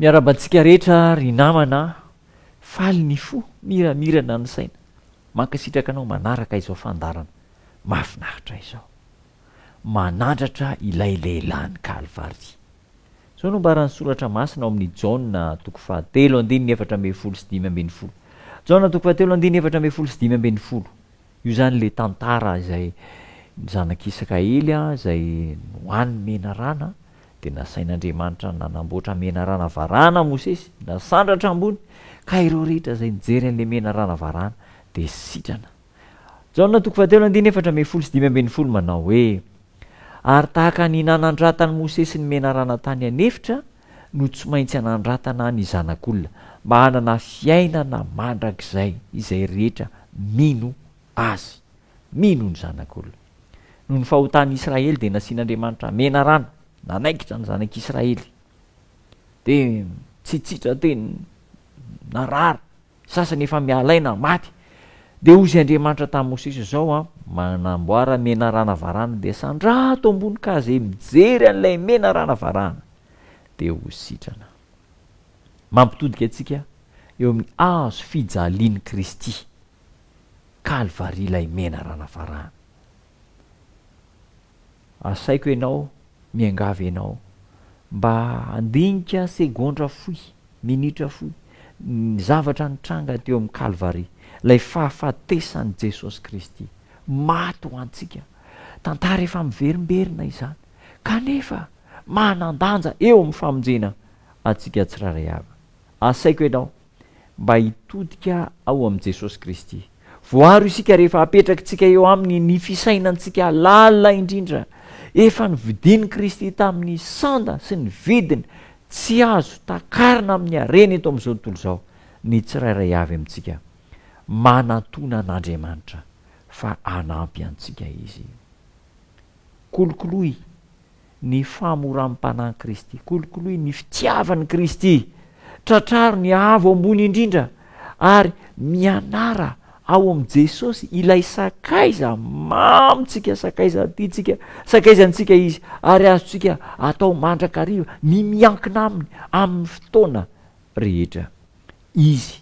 Miarahaba antsika rehetra ry namana a! Faly ny fo, miramirana ny saina. Mankasitraka anao manaraka izao fandaharana mahafinaritra izao. Manandratra ilay lehilahin'i Kalvary. Izao no ambaran'ny soratra masina ao amin'ny Jaona toko fahatelo andininy efatra ambin'ny folo sy dimy ambin'ny folo. Jaona toko fahatelo andininy efatra ambin'ny folo sy dimy ambin'ny folo. Io zany le tantara izay ny zanak'Isaka ely a, izay nohanin'i Menarana, dia nasain'Andriamanitra nanamboatra menarana varahana Mosesy, nasandratra ambony, ka ireo rehetra izay nijery an'ilay menarana varahana dia sitrana. Jaona toko fahatelo andininy efatra ambin'ny folo sy dimy ambin'ny folo manao hoe, Ary tahaka ny nanadratan'i Mosesy ny menarana tany an'efitra, no tsy maintsy hanandratana ny zanak'olona mba hanana fiainana mandrakizay izay rehetra mino Azy. Mino ny zanak'olona. Noho ny fahotan'ny Israely dia nasian'Andriamanitra menarana, nanaikitra ny zanak'Israely. Dia tsy tsitra teny narary. sasany efa miala aina, maty. Dia hozy Andriamanitra tamin'i Mosesy izao an, manamboara menarana varahana dia sandrato ambony ka izay mijery an'ilay menarana varahana dia ho sitrana. Mampitodika antsika eo amin'ny hazo fijalian'i Kristy, Kalvary ilay menarana varahana. Asaiko ianao, miangavy ianao, mba handinika segondra fohy, minitra fohy, ny zavatra nitranga teo amin'ny Kalvary, ilay fahafatesan'i Jesosy Kristy. Maty ho antsika. Tantara efa miverimberina izany, kanefa manan-danja eo amin'ny famonjena antsika tsirairay avy. Asaiko ianao, mba hitodika ao amin'i Jesosy Kristy. Voaro isika rehefa apetrakitsika eo aminy ny fisainantsika lalina indrindra. Efa novidian'i Kristy tamin'ny sanda sy ny vidiny tsy azo takarina amin'ny hareny eto amin'izao tontolo izao ny tsirairay avy amintsika. Manatona an'Andriamanitra fa hanampy antsika izy. Kolokoloy ny fahamoram-panahin'i Kristy. Kolokoloy ny fitiavan'i Kristy. Tratraro ny avo ambony indrindra ary mianara ao amin'i Jesosy ilay sakaiza mamintsika, sakaiza tiantsika, sakaizantsika izy ary azontsika atao mandrakariva ny miankina aminy amin'ny fotoana rehetra. Izy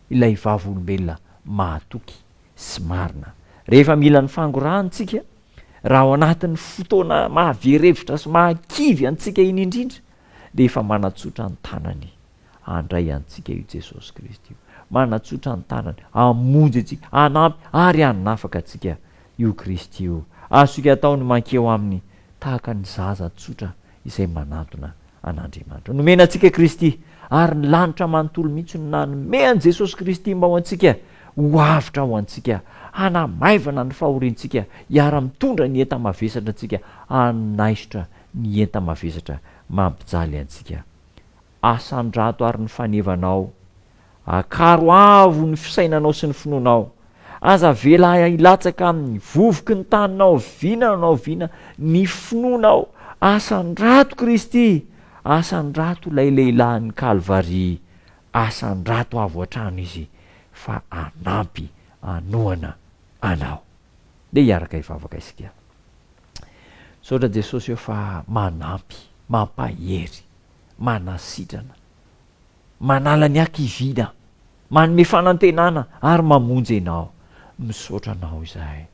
ilay vavolombelona mahatoky sy marina. Rehefa mila ny fangorahany isika, raha ao anatin'ny fotoana mahavery hevitra sy mahakivy antsika iny indrindra, dia efa manatsotra ny tanany handray antsika io Jesosy Kristy io. Manatsotra ny tanany hamonjy antsika, hanampy ary hanafaka antsika io Kristy io. Azontsika atao ny mankeo aminy tahaka ny zaza tsotra izay manantona an'Andriamanitra. Nomena antsika Kristy, ary ny lanitra manontolo mihitsy no nanome an'i Jesosy Kristy mba ho antsika ho avotra ho antsika, hanamaivana ny fahoriantsika, hiara-mitondra ny enta-mavesatra antsika, hanaisotra ny enta-mavesatra mampijaly antsika. asan-drato ary ny fanevanao. Akaro avo ny fisainanao sy ny finoanao. Aza avela hilatsaka amin'ny vovoky ny tany na oviana na oviana ny finoanao. Asan-drato Kristy, asan-drato ilay lehilahin'ny Kalvary. Asan-drato avo hatrany Izy fa hanampy, hanohana anao. Ndeha hiaraka hivavaka isika. Misaotra Jesosy ô fa manampy, mampahery. manasitrana, manala ny hakiviana, manome fanantenana ary mamonjy ianao. Misaotra anao izahay.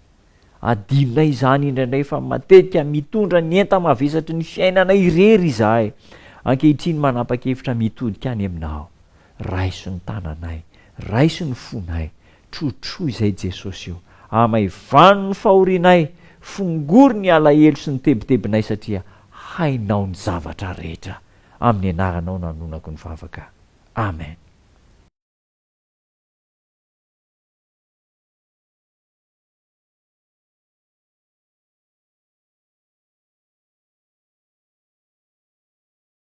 Adinonay izany indraindray fa matetika mitondra ny enta-mavesatry ny fiainana irery izahay. Ankehitriny manapa-kevitra mitodika any aminao. Raiso ny tananay, raiso ny fonay, Trotroy izay Jesosy eo. Amaivano ny fahorianay, fongory ny alahelo sy ny tebitebinay satria hainao ny zavatra rehetra. Amin'ny anaranao no anonako ny vavaka. Amen.